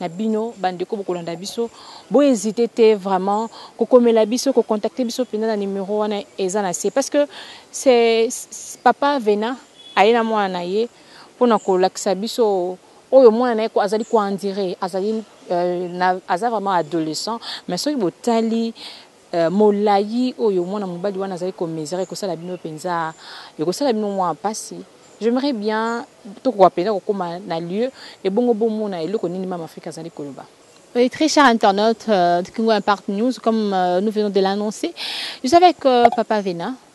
na bino bandeko bokolanda biso bo hésiter te vraiment kokomela biso ko contacter biso mpenza na numero wana eza na se parce que c'est papa vena aye na mwana na ye mpo na kolakisa biso oyo mwana na ye azali koandire azali euh, aza vraiment adolescent mais soki botali Euh molayi oyo mwana mobali wana azali ko mesurer ekosala bino penza ekosala bino mwa pasi. J'aimerais bien tokoka penza kokoma na lieu ebongo bomona eloko nini mama Afrika azali koloba. Oui, très cher internaute euh, de Kingo Impact News, comme euh, nous venons de l'annoncer, je suis avec euh, Papa Vena,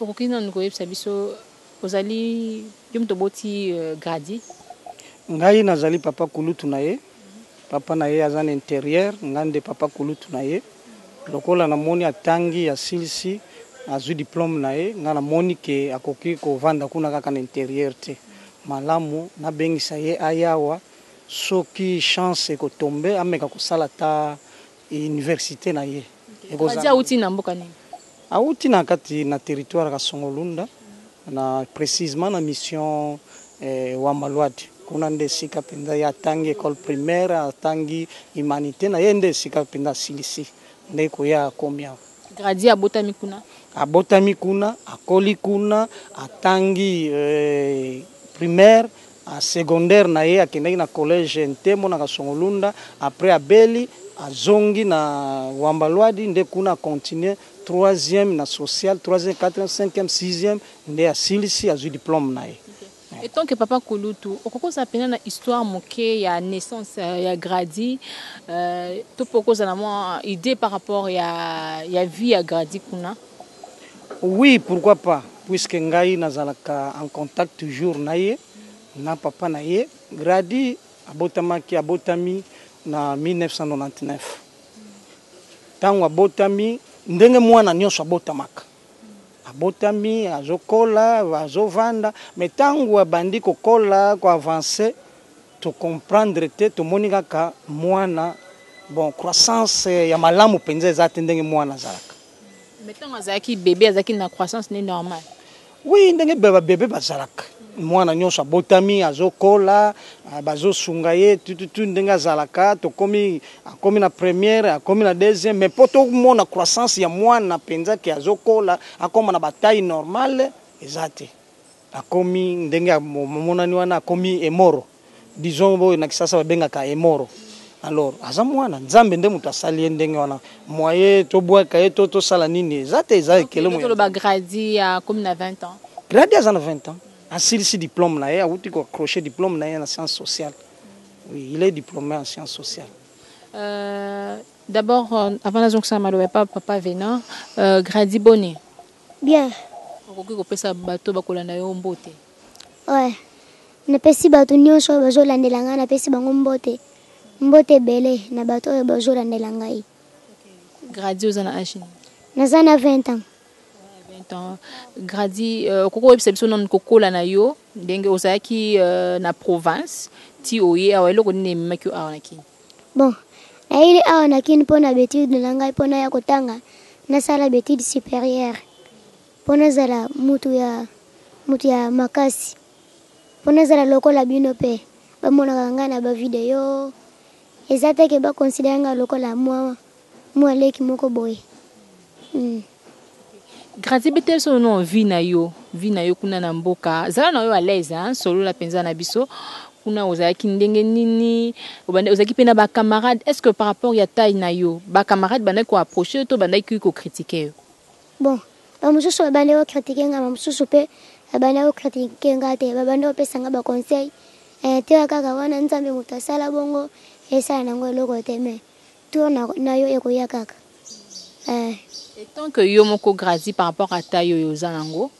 Okoki nanu koyebisa biso ozali yo moto oboti Grady? Ngai nazali papa kulutu na ye. Papa na ye aza na interieur, ngai nde papa kulutu na ye. Lokola namoni atangi, asilisi, azwi diplome na ye, ngai namoni que akoki kovanda kuna kaka na interieur te. Malamu nabengisa ye aya awa, soki chance eko tomber, ameka kosala ata universite na ye ekozala. Fadi awuti na mboka nini? Awuti na kati na territoire Kasongo-Lunda na precisement na mission eh, Wambaluadi. Kuna nde esika mpenza ye atangi ecole primaire, atangi humanite na ye nde esika mpenza asilisi nde koya akomi awa. Gradi abotami kuna? Abotami kuna, akoli kuna, atangi eh, primaire Na secondaire na ye akendaki na collège Ntembo na Kasongo-Lunda, après abeli, azongi na Wamba-Luadi nde kuna a continuer troisième na social, troisième, quatrième, cinquième, sixième nde asilisi azui diplome na ye. Etant que papa kulutu, okoki kozala mpenza na histoire moke ya naissance ya Grady, to mpe okozala na mwa idee par rapport ya vie ya Grady kuna? Oui pourquoi pas puisque ngai nazalaka en contact toujours na ye na papa na ye Grady abotamaki abotami na 1999 ntango abotami ndenge mwana nyonso abotamaka abotami azokola azovanda me ntango abandi kokola koavance tocomprendre te tomoni kaka mwana bon croissance ya malamu mpenza eza te ndenge mwana azalaka Mais tango azalaki bebe azalaki na croissance ne normal. Oui ndenge ba bebe bazalaka. Mwana nyonso abotami azokola ah, bazosunga ye tututu ndenge azalaka tokomi akomi na première akomi na deuxième mais mpo tomona croissance ya mwana mpenza ke azokola akoma na bataille normale eza te. Akomi ndenge amonani wana akomi emoro disons oyo na kisasa babengaka emoro alors aza mwana nzambe nde moto asali ye ndenge wana moye tobwaka ye to tosala nini eza te eza ekele moye toloba gradi akomi na 20 ans gradi aza na 20 ans asilisi diplome na ye awuti ko accroche diplome na ye na science sociale oui il est diplome en science sociale euh, d'abord euh, avant nazongisama loba pa papa venant euh, gradi boni Bien. Okoki kopesa bato bakolanda yo mbote? Ouais. Napesi bato nyonso oyo bazolandela ngai, napesi bango mbote. Mbote ebele na bato oyo bazolandela ngai. Grady, oza na age nini? Naza na 20 ans. 20 ans. Grady, euh, okoki koyebisa biso nanu kokola na yo ndenge ozalaki euh, na province ti oye awa eloko nini ememaki yo awa na Kenya? Bon nayeli awa na kin pona ba etudes na ngai pona ya kotanga nasala ba etudes superieures pona nazala mutu ya mutu ya makasi pona nazala lokola bino pe bamonaka ngai na ba video eza te ke ba considere ngai lokola mua Mua leki moko boye. Hum. Grace beta biso no no vie na yo vie na yo kuna na mboka zala na yo à l'aise hein solola mpenza na biso kuna ozalaki ndenge nini obanda ozalaki mpe na ba camarade est ce que par rapport ya taille na yo ba camarade bandaki koapproche yo to bandaki kokritike yo bon bamosusu babandaki kokritike nga bamosusu mpe babandaki kokritike nga te babandaki kopesa nga baconseil eh, teya kaka wana nzambe moto asala bongo esala nango eloko te mais Tour na, na yo ekoya kaka. Eh. Et tant que yo moko Grazi par rapport à taille oyo oza nango,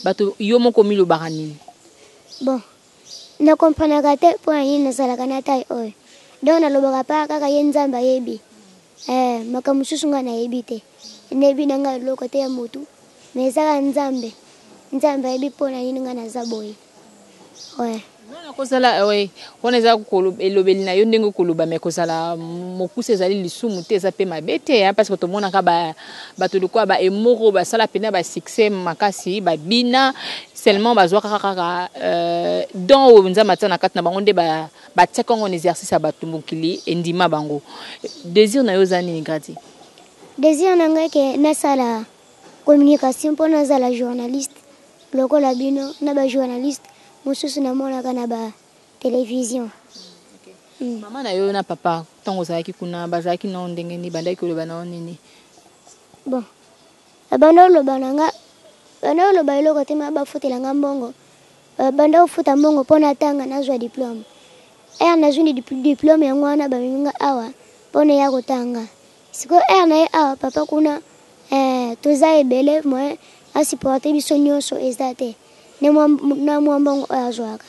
bato yo moko omilobaka nini? Bon, na comprenaka te mpo na nini nazalaka na taille oyo. Donc nalobaka pa kaka ye Nzambe ayebi. Eh, makambo mosusu ngai nayebi te. Nayebi na ngai eloko te ya motu, mais ezaka Nzambe. Nzambe ayebi mpo na nini ngai naza boye. Oui. Non na kozala oui. Wana eza elobeli na yo ndenge koloba mais kozala mokuse ezali lisumu te eza pe mabe te hein parce que tomonaka ba bato lokola ba emoro basala pena ba succès makasi ba bina seulement bazwa kaka kaka euh, don oyo nzambe atia na kati na bango nde ba batia kango en exercice ya bato mokili endima bango. Désir na yo eza nini Grady? Désir na ngai ke nasala communication mpo nazala journaliste. Lokola bino na ba journaliste mususu na monaka na ba television. Hmm. Mama na yo na papa tango ozalaki kuna bazalaki na ndenge nini bandaki koloba na yo nini? Bon. Abanda oloba na nga banda oloba eloko te ma bafutela nga mbongo banda kofuta mbongo mpo natanga nazwa diplome ere nazwi diplome yango wana bamemi nga awa mpo na ya kotanga Sikoyo heure na ye awa papa kuna eh, toza ebele moyen a supporter biso nyonso eza te na mwa mbongo oyo azwaka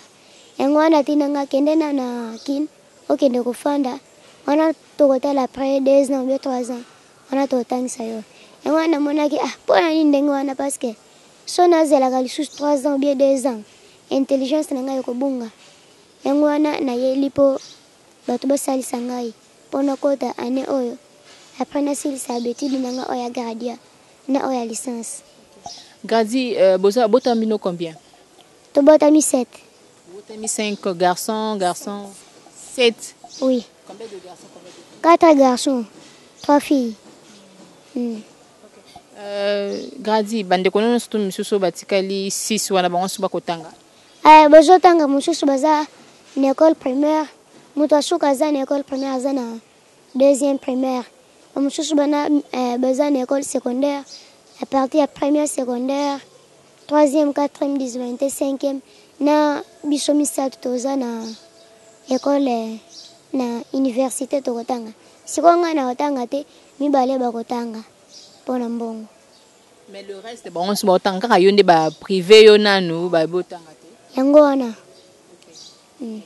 yango wana atina nga kende na na kin okende kofanda wana tokotala après deux ans oubien trois ans wana totangisa yo yango wana namonaki ah mpo na nini ndenge wana parce que so nazelaka lisusu trois ans oubien deux ans intelligence na ngai ekobunga yango wana nayeli mpo Bato bosalisa ngai po nakota annee oyo après nasilisa ba etudes na nga oyo ya graduat na oyo ya licence. Grady euh, boza botami bino combien? Tobotami 7. Botami 5 garçons, garçons 7. Oui. Combien de garçons, combien de filles? 4 garçons, 3 filles. Hmm. Euh, Grady bandeko nono surtout misusu batikali 6 wana bango nsusu bakotanga. Eh, bozo tanga mususu baza na école primaire, mutu asuka aza na école primaire aza na deuxième primaire. Ba mususu bana eh, baza na école secondaire, à partir ya première secondaire, troisième, quatrième, dixième, cinquième na biso misato toza na école eh, na université tokotanga. Sikoyo ngai nakotanga te, mibale bakotanga mpo na mbongo. Mais le reste bango nso baotanga kaka yo nde ba privé yo nanu ba botanga te. Yango wana. Mm.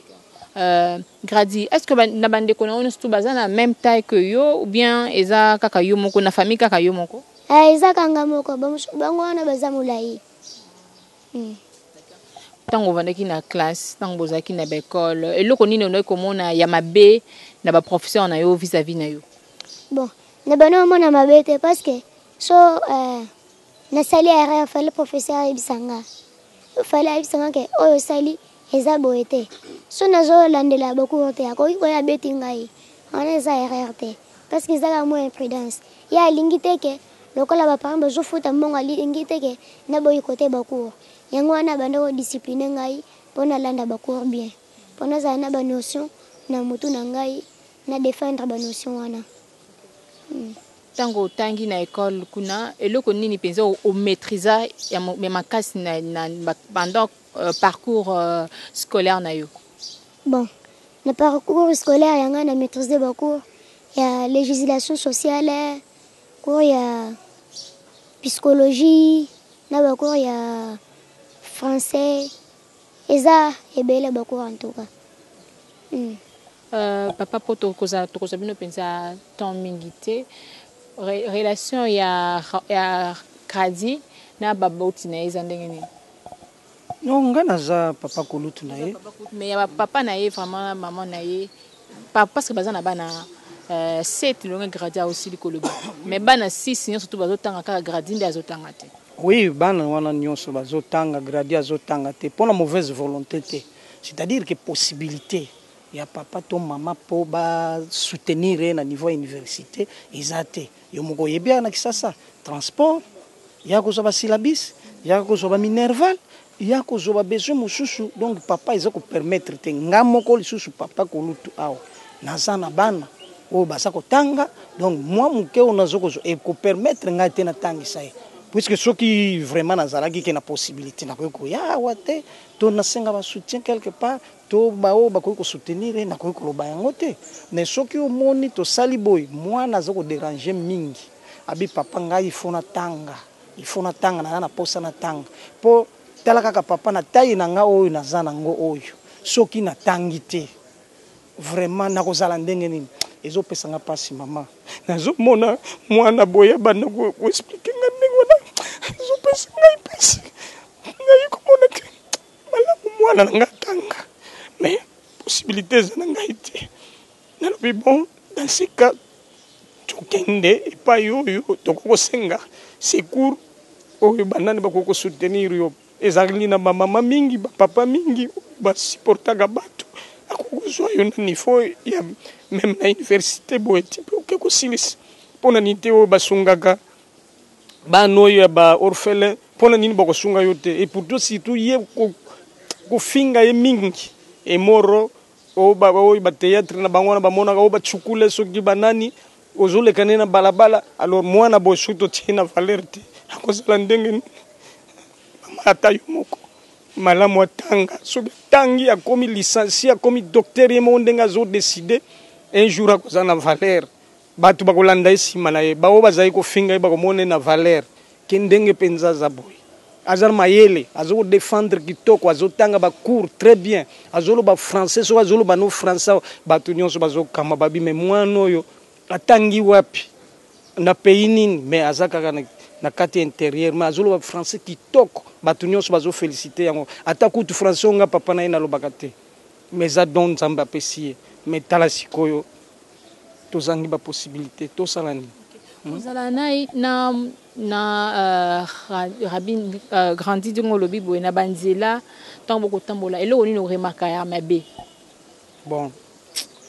Euh, Grady, est-ce que na bande ko na ono tout baza na même taille que yo ou bien eza kaka yo moko na famille kaka yo moko? Eh, eza kanga moko bango wana baza molayi. Mm. ntango ovandaki na classe ntango bozalaki na baekole eloko nini ondaki komona ya mabe na baprofesseur na yo vis-à-vis na yo bon na bana omona mabe te parce que so eh, nasali erreur fale professeur ayebisa nga fale ayebisa nga ke oyo osali eza boye te so nazolandela bokour te akoki koya abeti ngai wana eza erreur te parce que ezaka mwa imprudence ye alingi te ke lokola baparent bazofuta mbongo alingi te ke naboyi kote bakour yango wana abanda kodiscipline ngai mpo nalanda bakour bien mpo nazala na banotion na motu na ngai na defendre banotion wana Tango otangi na ecole kuna eloko nini penza o maitrisa ya makasi na, na pendant euh, parcours euh, scolaire na yo? Bon, na parcours scolaire ya ngai na maîtrise ba cours ya législation sociale, cours ya psychologie na ba cours ya français eza ebele ba cours en tout cas. Hmm. Euh papa po tokozala tokozwa bino penza temps mingi te Re, relation ya ya Grady na baboti na ye eza ndenge nini non nga naza papa kulutu na ye mais ya papa na ye vraiment na maman na ye pa, parce que baza na bana euh, 7 longue Grady aosili koloba mais bana 6 nyonso tu bazotanga kaka Grady nde azotanga te oui bana wana nyonso bazotanga Grady azotanga te mpo na mauvaise volonté te c'est-à-dire que possibilité ya papa to maman po ba soutenir ye na niveau ya universite eza te yo moko oyebi awa na kisasa transport ya kozua ba syllabus ya kozua ba minerval ya kozua ba besoin mosusu donc papa eza ko permettre te nga moko lisusu papa kulutu awa naza na bana oyo baza kotanga donc mwa moke oyo nazo kozua eko permettre ngai te natangisa ye puisque soki vraiment nazalaki ke na possibilite nakoki koya awa te to nasenga ba soutien quelque part To ba oyo bakoki ko soutenir ye nakoki koloba yango te mais soki omoni tosali boye mwana aza ko deranger mingi abi papa ngai il faut natanga il faut natanga naza na posa natanga po tala kaka papa na taille na nga oyo naza na ngo oyo soki natangi te vraiment nakozala ndenge nini ezo pesa nga pasi maman nazo mona mwana boye abanda ko expliquer nga ndenge wana ezo pesa ngai pasi naye komona ke malamu mwana na ngai atanga mais possibilité eza na ngai te nalobi bon dans ce cas tokende epai oyo tokoki kosenga secours oyo banani bakoki kosoutenir yo ezali na bamama mingi bapapa mingi basupportaka bato akoki kozwa yo na niveau ya meme na université boye tipe oke kosilisa mpo na nini te oyo basungaka Bana oyo ya ba orphelin pona nini bako sunga yo te et pourtant surtout ye ko kofinga ye mingi emoro oyo ba oyo ba theatre na bango wana ba monaka oyo ba tshukule soki ba nani ozo leka ne na balabala alors mwana boye soki totie na valeur te akozala ndenge nini mama ata yo moko malamu atanga soki tangi akomi licencie akomi docteur ye moko ndenge azo decide un jour akozala na valeur Batu bakolanda ye sima na ye baoyo bazali kofinga ye bakomona ye na valeur ke ndenge penza aza boye aza na mayele azo ko defendre kitoko azo tanga ba cours très bien azo loba français soki azo loba no français batu nionso bazo kama babi mais muana oyo atangi wapi na pays nini mais aza kaka na na kati interieur mais azo loba français kitoko batu nionso bazo feliciter yango ata kutu français onga papa na ye na lobaka te mais eza don nzambe apesi ye mais tala sikoyo tozangi ba possibilite tosala nini hmm? ozala na na na uh, rabin uh, grandi ndenge olobi boye na banzela ntango bokotambola eloko nini oremaka ya mabe bon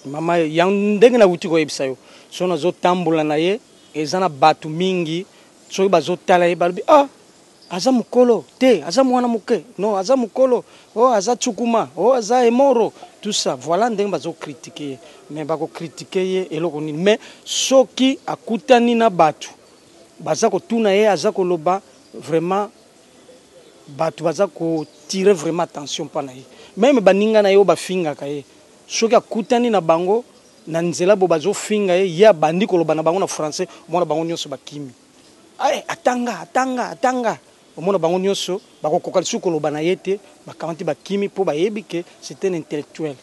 mama ya ndenge nauti koyebisa yo so nazotambola na ye eza na bato mingi soki bazotala ye balobi ah Aza mukolo te aza muana muke non aza mukolo oh aza tsukuma oh aza emoro tout ça voila ndenge bazo critique ye mais bako critique ye eloko nini mais soki akutani na batu baza kotuna ye aza koloba vraiment batu baza ko tire vraiment attention pa na ye meme baninga na ye oyo bafingaka ye soki akutani na bango na nzela bo bazo finga ye ye abandi koloba na bango na français omona bango nionso bakimi. Aye atanga atanga atanga omona bango nioso bako koka lisusu koloba na ye te ba kamati ba kimi po ba yebi que c'est un intellectuel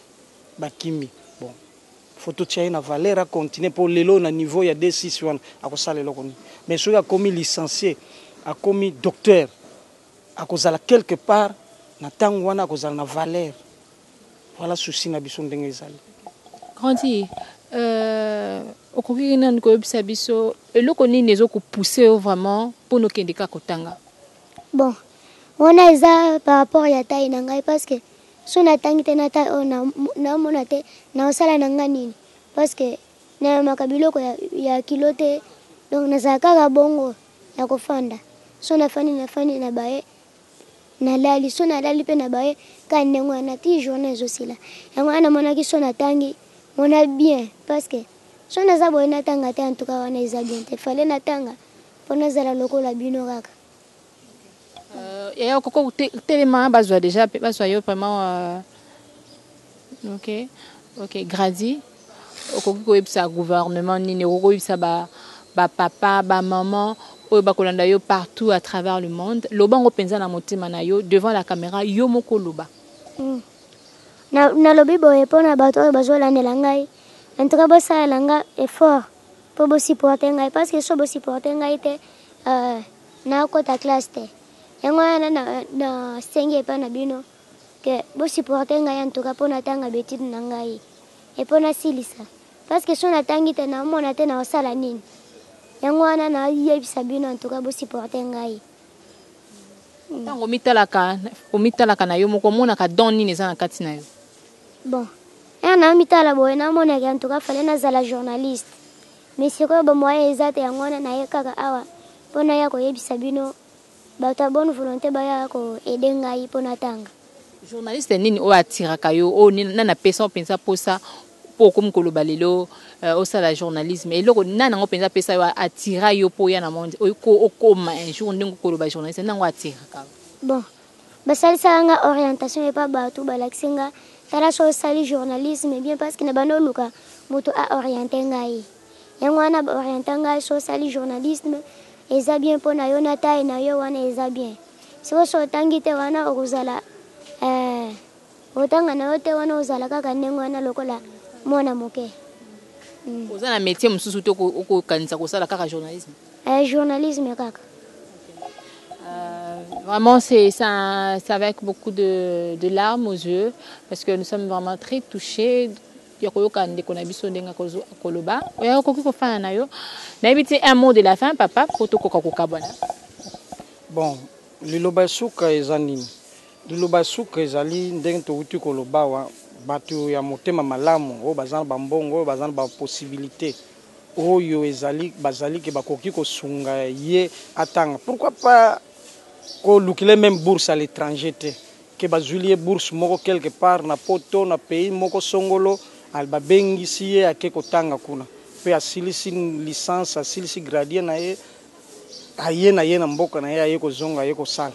ba kimi bon faut to tia ye na valeur a continue po lelo na niveau ya D6 wana ako sala eloko nini mais soki akomi licencie akomi docteur ako zala quelque part na tangu wana ako zala na valeur Voilà souci na biso ndenge ezali. Grandi, euh, okoki nanu koyebisa biso eloko nini ezo ko pousser yo vraiment mpo nokende kaka kotanga? Bon, wana eza par rapport ya taille na ngai parce que so natangi te na taille oyo oh, naomona te naosala na ngai nini parce que nayamaka biloko ya, ya kilo te donc nazala kaka bongo ya kofanda so nafandi nafandi na baye Nalali soki nalali pe na baye kaka ndenge wana ti journee ezo sila yango wana namonaki soki natangi mona bien parce que soki naza boye natanga te en tout cas wana eza bien te fallait natanga po nazala lokola bino kaka. Euh, yaya okoki kotelema bazwa deja bazwa yo vraiment euh, ok ok gradi Okoki koyebisa gouvernement nini? Okoki koyebisa ba, ba papa, ba maman oyo bakolanda yo partout à travers le monde. Loba yango mpenza na motema na yo devant la camera, yo moko loba. Mm. Na, nalobi boye mpo na bato oyo bazolandela ngai, en tout cas bosalela nga effort mpo bosupporte ngai, parce que so bosupporte ngai te euh, nakota classe te. Yango wana nasengi epai na bino que bo supporter ngai en tout cas pona tanga ba etudes na ngai et pona silisa parce que son atangi te na mona te na osala nini yango wana na yebisa bino en tout cas bo supporter ngai ntango omitalaka omitalaka na yo moko omonaka don nini eza na kati na yo bon ya na mitala boye namonaki en tout cas fale nazala journaliste mais sikoyo bamoyen eza te yango wana naye kaka awa mpo naya koyebisa bino Batu ya bonne volonte baya ko aider ngai po na tanga. Journaliste nini oyo attiraka yo oyo nani apesa yo penza posa po okomi koloba lelo euh, osala journalisme eloko nani yango penza apesa yo attira yo po oya na monde oyo ko okoma un jour ndenge koloba journaliste nani yango attiraka yo Bon, basalisaka nga orientation epa batu balakisi nga tala soki osali journalisme bien parce que na banda oluka mutu a orienter ngai. yango wana ba orienta ngai so osali journalisme eza bien mpo na yo na taille na yo wana eza bien soki osi otangi te wana okozala eh, otanga na yo te wana ozala kaka ndenge wana lokola mwana moke mm. oza na métier mosusu te okokanisa kosala kaka journalisme eh, journalisme kaka Vraiment, c'est avec beaucoup de, de larmes aux yeux, parce que nous sommes vraiment très touchés ya koyoka ndeko na biso ndenge akoloba oyo akoki kofana na yo nayebi te un mot de la fin papa mpo tokoka kokabwana bon liloba ya suka eza nini liloba ya suka ezali ndenge towuti koloba wa bato ya motema malamu oyo baza na bambongo oyo baza na baposibilité oyo ezali bazali ke bakoki kosunga ye atanga pourquoi pas kolukile meme bourse à l'étranger te que bazuili ye bourse moko quelque part na poto na pays moko songolo al babengisi ye ake kotanga kuna pe asilisi licence asilisi gradien na ye aye na ye na mboka na ye aye kozonga aye kosala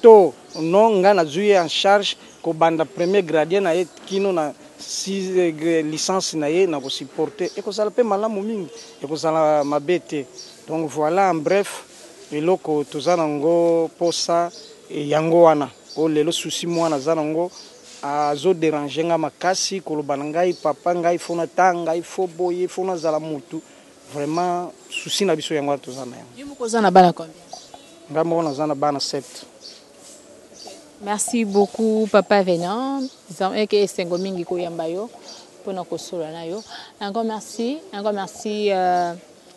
to non nga nazui ye en charge kobanda premier gradien na ye kino na licence na ye na ko supporte ekozala pe malamu mingi ekozala mabe te donc voila en bref. eloko toza na ngo posa yango wana oyo lelo souci mwana aza na ngo azo derange nga makasi koloba na ngai papa ngai faut na tanga il faut boye faut na zala mutu vraiment souci na biso yango wana toza na yango yo moko oza na bana combien ngai moko naza na bana 7 Merci beaucoup Papa Venant. Zameke esengo mingi koyamba yo pona kosolola na yo. Encore merci, encore merci euh...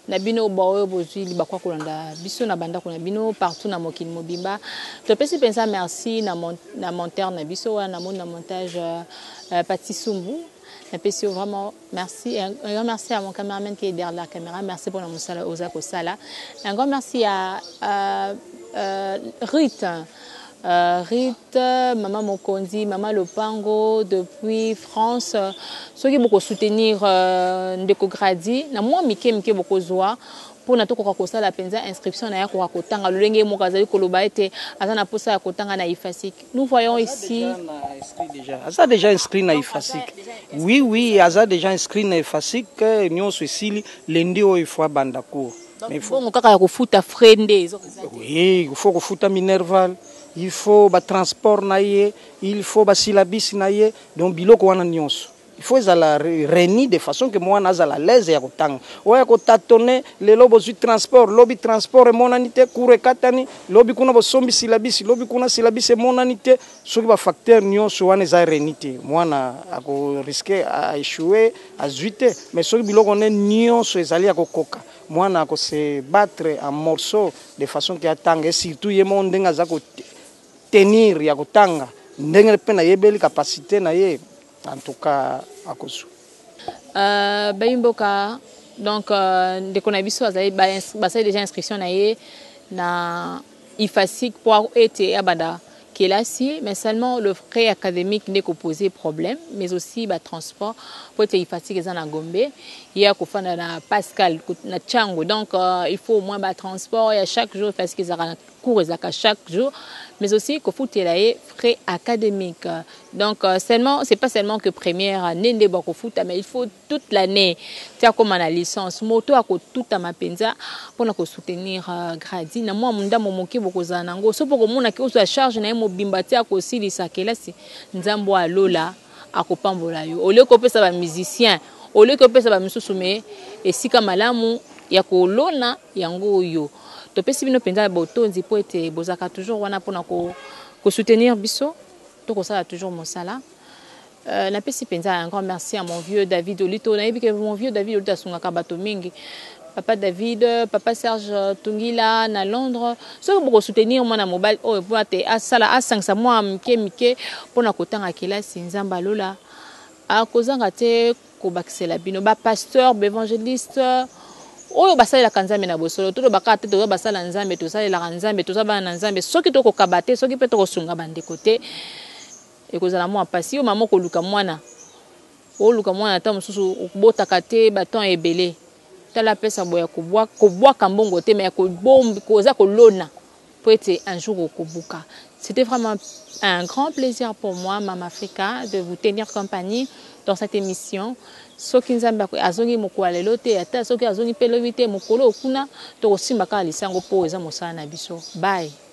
na bino baoyo bozwi libaku ya kolanda biso na bandako na bino partout na mokili mobimba. Topesi mpenza merci na, mon, na monteur na biso wana namoni na montage uh, uh, Pati Sumbu. Napesi yo vraiment merci. Un, un grand merci à mon cameraman qui est derrière la caméra. Merci mpo na mosala oza kosala. Un grand merci à uh, uh, Ruth. Ruth maman mokonzi maman lopango depuis France soki boko soutenir ndeko Grady na mwa mike mike bokozwa mpona tokoka kosala mpenza inscription na ye akoka kotanga lolenge ye moko azali koloba ete aza na mposa ya kotanga na ifasic nous voyons ici aza deja inscrit na ifasic oui oui aza deja inscrit na ifasic nyonso esili lendi oyo ifo abanda cour Mais faut- bongo kaka ya kofuta frais nde ezo Oui, il faut kofuta minerval il faut batransport na ye il faut basilabisi na ye donc biloko wana nyonso il faut ezala re- reni de façon ke mwana azala alaise ya kotanga oya kotatone lelo bozwi transport lobi transport emonani te cour ekatani lobi kuna bosombi silabisi lobi kuna silabisi emonani te Soki ba facteurs nionso wana eza reunis te, mwana ako risquer a echouer, azui te. Mais soki biloko wana nionso ezali ya ko koka, mwana ako se battre en morceaux de façon que atanga et surtout ye moko ndenge aza ko tenir ya ko tanga, ndenge pe na yebeli capacite na ye, en tout cas ako zua. Euh, bayi mboka, donc euh, ndeko na biso azali ba, basali dejà inscription na ye na Ifasic po ete abanda kelasi mais seulement le frais academique nde eko poser problème mais aussi ba transport po ete Ifasic eza na Gombe ye ako fanda na Pascal na Tshangu donc il faut au moins ba transport ya chaque jour Ifasic ezalaka na cours ezalaka chaque jour mais aussi ko futela ye frais academique donc seulement c'est pas seulement que première annee nde bako futa mais il faut toute l'annee ti akoma na licence moto akotutama mpenza mpo na kosoutenir euh, gradi na mwa mondambo moke bokozala na yango soki okomona ke ozwa charge na ye mobimba ti akosilisa kelasi nzambo ya lola akopambola yo olie kopesa bamusicien olie kopesa bamisusu me esika malamu ya kolona yango oyo topesi bino mpenza botondi mpo ete bozalaka toujours wana mpo na kosoutenir biso tokosala toujours mosala Euh, napesi mpenza un grand merci à mon vieux David Olito. Nayebi que mon vieux David Olito asungaka bato mingi. Papa David, Papa Serge Tungila na Londres. Soki boko soutenir mwana mobali oyo mpo ate asala asangisa mwa mike mike mpo na kotanga kelasi Nzambe alola akozanga te kobakisela bino ba pasteur baevangeliste oyo basalelaka nzambe na bosolo toloba kaka te toza basala nzambe tosalelaka nzambe toza bana na nzambe soki tokokaba te soki mpe tokosunga bandeko te Ekozala mua pasi yo mama okoluka muana oluka muana tango mosusu okbotaka te ba temps ebele tala apesa boye ya kobuaka mbongo te mais koza kolona po ete un jour okobuka c'était vraiment un grand plaisir pour moi mama africa de vous tenir compagnie dans cette émission soki nzambe azongi mokolo ya lelo te ata soki azongi mpe lobi te mokolo okuna tokosimba kaka lisango mpo eza mosala na biso bye